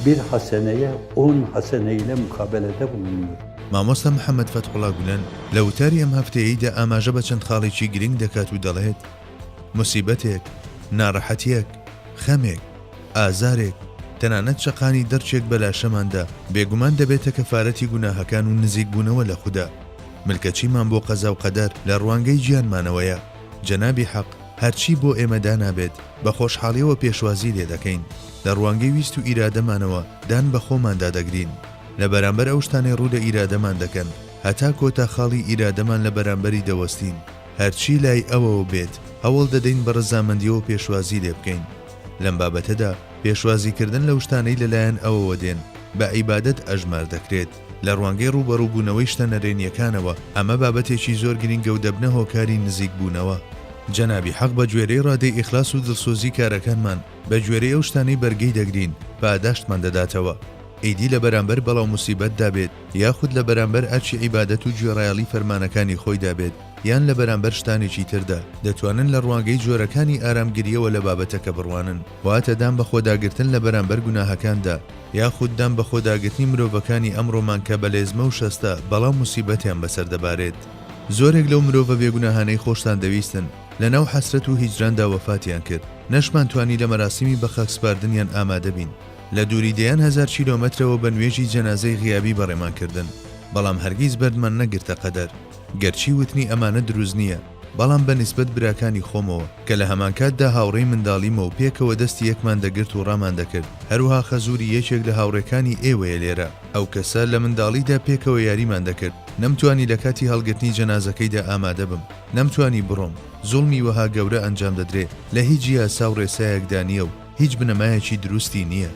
بیر حەسەنەیە ئون حەسەنەیلە موقابەلەدە بووننور. مامۆستا محەمەد فەتحوڵا گولەن لە وتاری ئەم هەفتەیەیدا ئاماژە بە چەند خاڵێکی گرنگ دەکات و دەڵێت، موسیبەتێک، ناڕەحەتییەک، خەمێک، ئازارێک، تەنانەت چەقانی دڕچێک بە لاشەماندا، بێگومان دەبێتە کەفارەتی گوناهەکان و نزیکبوونەوە لە خودا. ملکەچیمان بۆ قەزا و قەدەر لە ڕوانگەی گیانمانەوەیە، جەنابی حەق هەرچی بۆ ئێمە دانابێت بە خۆشحاڵیەوە پێشوازی لێ دەکەین، لە ڕوانگەی ویست و ئیرادەمانەوە دان بە خۆماندا دەگرین لە بەرامبەر ئەو شتانەی ڕوو لە ئیرادەمان دەکەن هەتا کۆتا خاڵی ئیرادەمان لە بەرامبەری دەوەستین، هەرچی لای ئەوەوە بێت هەوڵ دەدەین بە ڕەزامەندیەوە پێشوازی لێ بکەین، لەم بابەتەدا پێشوازیکردن لەو شتانەی لەلایەن ئەوەوە دێن بە عیبادەت ئەژمار دەکرێت. لە ڕوانگەی ڕووبەڕووبوونەوەی شتە نەرێنییەکانەوە، ئەمە بابەتێکی زۆر گرنگە و دەبنە هۆکاری نزیکبوونەوە. جەنابی حەق بە گوێرەی ڕادەی ئیخلاس و دڵسۆزی کارەکانمان، بە گوێرەی ئەو شتانەی بەرگەی دەگرین، پاداشتمان دەداتەوە. ئیدی لە بەرامبەر بەڵا و موسیبەتدا بێت، یاخود لە بەرامبەر ئەرکی عیبادەت و گوێڕایەڵی فەرمانەکانی خۆیدا بێت، یان لە بەرامبەر شتانێکی تردا، دەتوانن لە ڕوانگەی جۆرەکانی ئارامگرییەوە لە بابەتەکە بڕوانن. واتە دان بەخۆداگرتن لە بەرامبەر گوناهەکاندا، یاخود دان بەخۆداگرتنی مرۆڤەکانی ئەمڕۆمان کە بەلێزمە و شەستە بەڵام موسیبەتیان بەسەر دەبارێت. زۆرێک لەو مرۆڤە بێگوناهانەی خۆشتان دەویستن، لەناو حەسرەت و هیجراندا وەفاتیان کرد، نەشمان توانی لە مەراسیمی بەخاکسپاردنیان ئامادە بین، لە دووری دەیان هەزار کیلۆمەترەوە بە نوێژی جەنازەی غیابی بەڕێمان کردن، بەڵام هەرگیز بەردمان نەگرتە قەدەر، گەرچی وتنی ئەمانە دروست نییە، بەڵام بە نیسبەت براکانی خۆمەوە، کە لە هەمانکاتدا هاوڕێی منداڵیمە و پێکەوە دەستی یەکمان دەگرت و ڕامان دەکرد، هەروەها خەزووری یەکێک لە هاوڕێکانی ئێوەیە لێرە. ئەو کەسە، لە منداڵیدا پێکەوە یاریمان دەکرد. نەمتوانی لە کاتی هەڵگرتنی جەنازەکەیدا ئامادە بم. نەمتوانی بڕۆم. زوڵمی وەها گەورە ئەنجام دەدرێ، لە هیچ یاسا و ڕێسایەکدا نییە و، هیچ بنەمایەکی دروستی نییە.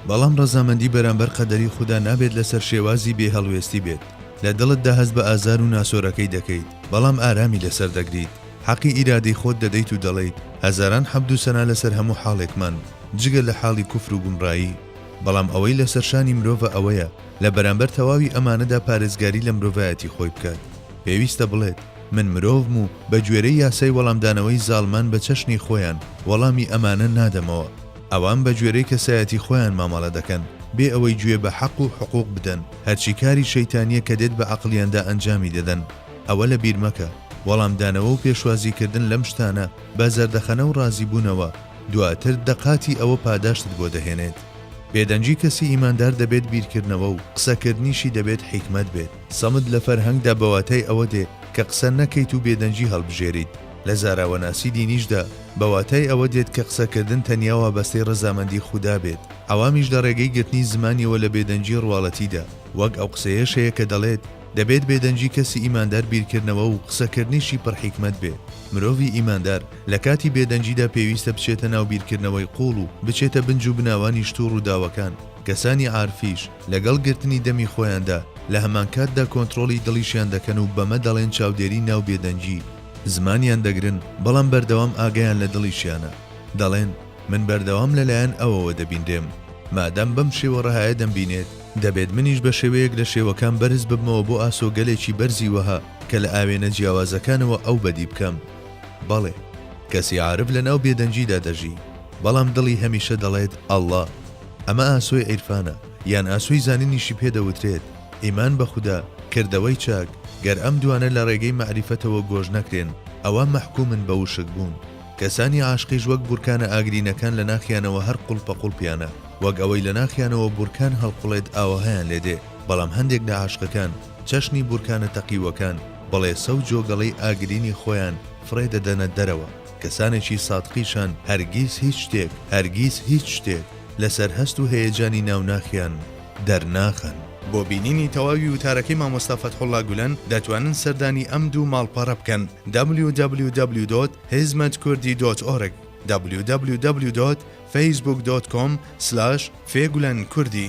بەڵام ڕەزامەندی بەرامبەر قەدەری خودا نابێت لەسەر شێوازی بێ هەڵوێستی بێت. لە دڵتدا هەست بە ئازار و ناسۆرەکەی دەکەیت، بەڵام ئارامی لەسەر دەگریت. حەقی ئیرادەی خۆت دەدەیت و دەڵێیت، هەزاران حەمد و سەنا لەسەر هەموو حاڵێکمان، جگە لە حاڵی کوفر و گومڕایی. بەڵام ئەوەی لەسەر شانی مرۆڤە ئەوەیە لە بەرامبەر تەواوی ئەمانەدا پارێزگاری لە مرۆڤایەتی خۆی بکات. پێویستە بڵێت. من مرۆڤم و بە گوێرەی یاسای وەڵامدانەوەی زاڵمان بە چەشنی خۆیان وەڵامی ئەمانە نادەمەوە. ئەوان بە گوێرەی کەسایەتی خۆیان مامەڵە دەکەن بێ ئەوەی گوێ بە حەق و حقوق بدەن، هەرچی کاری شەیتانییە کە دێت بە عەقڵیاندا ئەنجامی دەدەن. ئەوە لە بیر مەکە. وەڵامدانەوە و پێشوازی کردن لەم شتانە بە زەردەخەنە و ڕازیبوونەوە، دواتر دە قاتی ئەوە پاداشتت بۆ دەهێنێت. بێدەنگی کەسی ئیماندار دەبێت بیرکردنەوە و قسەکردنیشی دەبێت حیکمەت بێت. سەمت لە فەرهەنگدا بە واتای ئەوە دێ کە قسە نەکەیت و بێدەنگی هەڵبژێریت. لە زاراوەناسی دینیشدا بە واتای ئەوە دێت کە قسەکردن تەنیا وابەستەی ڕەزامەندی خودا بێت، عەوامیش لە ڕێگەی گرتنی زمانیەوە لە بێدەنگی ڕواڵەتیدا وەک ئەو قسەیەش هەیە کە دەڵێت، دەبێت بێدەنگی کەسی ئیماندار بیرکردنەوە و قسەکردنیشی پڕ حیکمەت بێت. مرۆڤی ئیماندار لە کاتی بێدەنگیدا پێویستە بچێتە ناو بیرکردنەوەی قووڵ و بچێتە بنج و بناوانی شت و ڕووداوەکان، کەسانی عارفیش، لەگەڵ گرتنی دەمی خۆیاندا، لە هەمانکاتدا کۆنترۆڵی دڵیشیان دەکەن و بەمە دەڵێن چاودێری ناو بێدەنگی، زمانیان دەگرن، بەڵام بەردەوام ئاگایان لە دڵیشیانە، دەڵێن، من بەردەوام لەلایەن ئەوەوە دەبینرێم، مادام بەم شێوە ڕەهایە دەمبینێت، دەبێت منیش بە شێوەیەک لە شێوەکان بەرز ببمەوە بۆ ئاسۆگەلێکی بەرزی وەها کە لە ئاوێنە جیاوازەکانەوە ئەو بەدی بکەم. بەڵێ، کەسی عارف لەناو بێدەنگیدا دەژی، بەڵام دڵی هەمیشە دەڵێت، اللە. ئەمە ئاسۆی عیرفانە یان ئاسۆی زانینیشی پێ دەوترێت، ئیمان بە خودا، کردەوەی چاک، گەر ئەم دوانە لە ڕێگەی مەعریفەتەوە گۆش نەکرێن ئەوا مەحکومن بە وشک بوون. کەسانی عاشقیش وەک بورکانە ئاگرینەکان لە ناخیانەوە هەر قوڵپەقوڵپیانە، وەک ئەوەی لە ناخیانەوە بورکان هەڵقوڵێت ئاوەهایان لێ دێ، بەڵام هەندێک لە عاشقەکان چەشنی بورکانە تەقیووەکان، بڵێسە و جۆگەڵەی ئاگرینی خۆیان فڕێ دەدەنە دەرەوە. کەسانێکی سادقیشان هەرگیز هیچ شتێک، هەرگیز هیچ شتێک، لەسەر هەست و هەیەجانی ناو ناخیان دەرناخەن. بۆ بینینی تەواوی وتارەکەی مامۆستا فەتحوڵا گولەن دەتوانن سەردانی ئەم دوو ماڵپەڕە بکەن www.hizmetkurdidot'org www.facebook.com/fegulankurdhi.